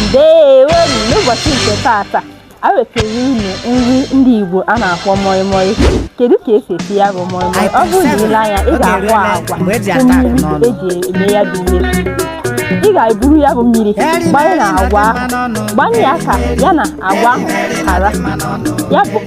ndeewo n'ụbọchị nke taata a wetara unu nri ndị Igbo a na-akpọ moi moi kedu ka esi esi ya bụ moi moi ọ bụrụ na ile anya ị ga-ahụ agwa mmiri eji eme ya bụ ihe ị ga-eburu ya bụ mmiri gbanye na agwa ahụ gbanye ya ka ya na agwa ahụ hara ya bụ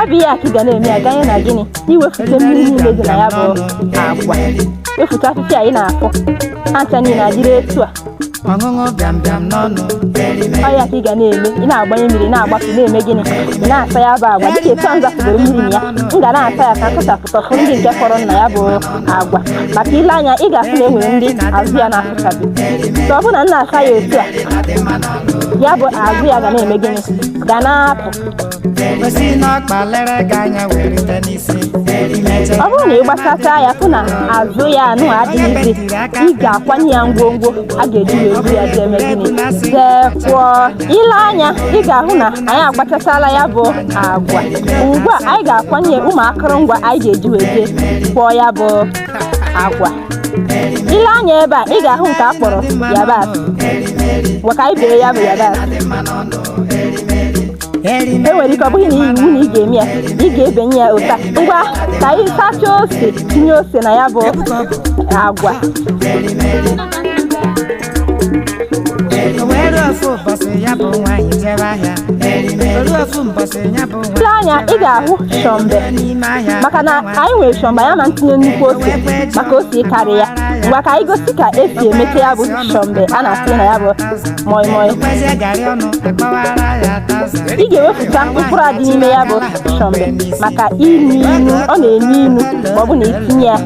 ọ bụ ihe a ka ị ga na-eme ya ganye na gịnị iwefute mmiri niile dị na ya bụ agwa wefute afịfịa ị na-afụ ha ncha niile adịrị etu a ọ ya ka ị ga na-eme ị na-agbanye mmiri na-agbapụ na-eme gịnị ị na-asa ya bụ agwa dịka etu a m zapụgoro mmiri na ya m ga na-asa ya ka m sachapụta ụfọdụ ndị nke fọrọ na ya bụ agwa maka ile anya ị ga-afụ na e nwere ndị azụ ya na-afụchabi so ọ bụrụ na m na-asa ya otu a ya bụ azụ ya ga na-eme gịnị ga na-apụ ọ bụrụ na ị gbachata ya fụ na azụ ya anụ adịghịzi ị ga-akwanye ya ngwongwo a ga-eji wee bu ya jee eme gịnị jee kwọọ ile anya ị ga-ahụ na anyị agbachasala ya bụ agwa ugbu a anyị ga-akwanye ụmụ akụrụngwa anyị ga-eji wee jee kwọọ ya bụ agwa ile anya ebe a ị ga-ahụ nke a kpọrọ yabasị ngwa ka anyị bee ya bụ yabasị e nwere ike ọ bụghị na iwu na ị ga-eme ya ị ga-ebenye ya otu a ngwa ka anyị sachaa ose tinye ose na ya bụ agwa O wee ruo ofu ụbọchị ya bụ nwaanyị jebe ahịa. O ruo ofu mbọchị ya bụ nwaanyị Ile anya ị ga-ahụ shọmbe jebe n'ime ahịa. maka na anyị nwere shọmbe ya na ntinye nnukwu ose maka ose ịkarị ya ngwa ka anyị gosi ka esi emete ya bụ shọmbe a na-asị na ya bụ moi moi Ekwezie garị ọnụ akpọwara ya taza. ị ga-ewepụta mkpụrụ a dị n'ime ya bụ shọmbe maka inu inu ọ na-enu inu ma ọ bụ na itinye ya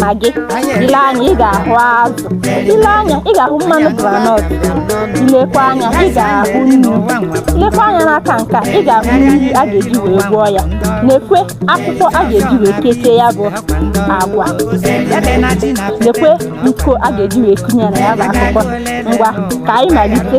magi ile anya ị ga-ahụ azụ ile anya ị ga-ahụ mmanụ granọt ilekwa anya ị ga-ahụ nnu ilekwa anya n'aka nke a ị ga-ahụ mmiri a ga-eji wee gwọọ ya nekwe akwụkwọ a ga-eji wee kechie ya bụ agwa nekwe iko a ga-eji wee kunye na ya bụ akwụkwọ ngwa ka anyị malite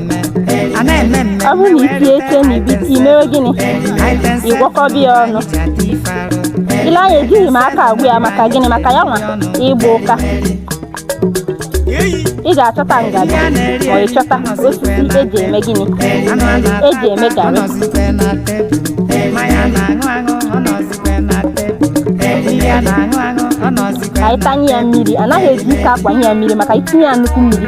a na-eme mmemme ọ bụrụ na itinye ike na ibite imewe gịnị ịgwọkọba ya ọnụ ile anya ejighị m aka agwọ ya maka gịnị maka ya nwa ịgba ụka ị ga-achọta ngaji ma ị chọta osisi eji eme gịnị eji eme garị ka anyị tanye ya mmiri anaghị eji ike akwanye ya mmiri maka itinye ya nnukwu mmiri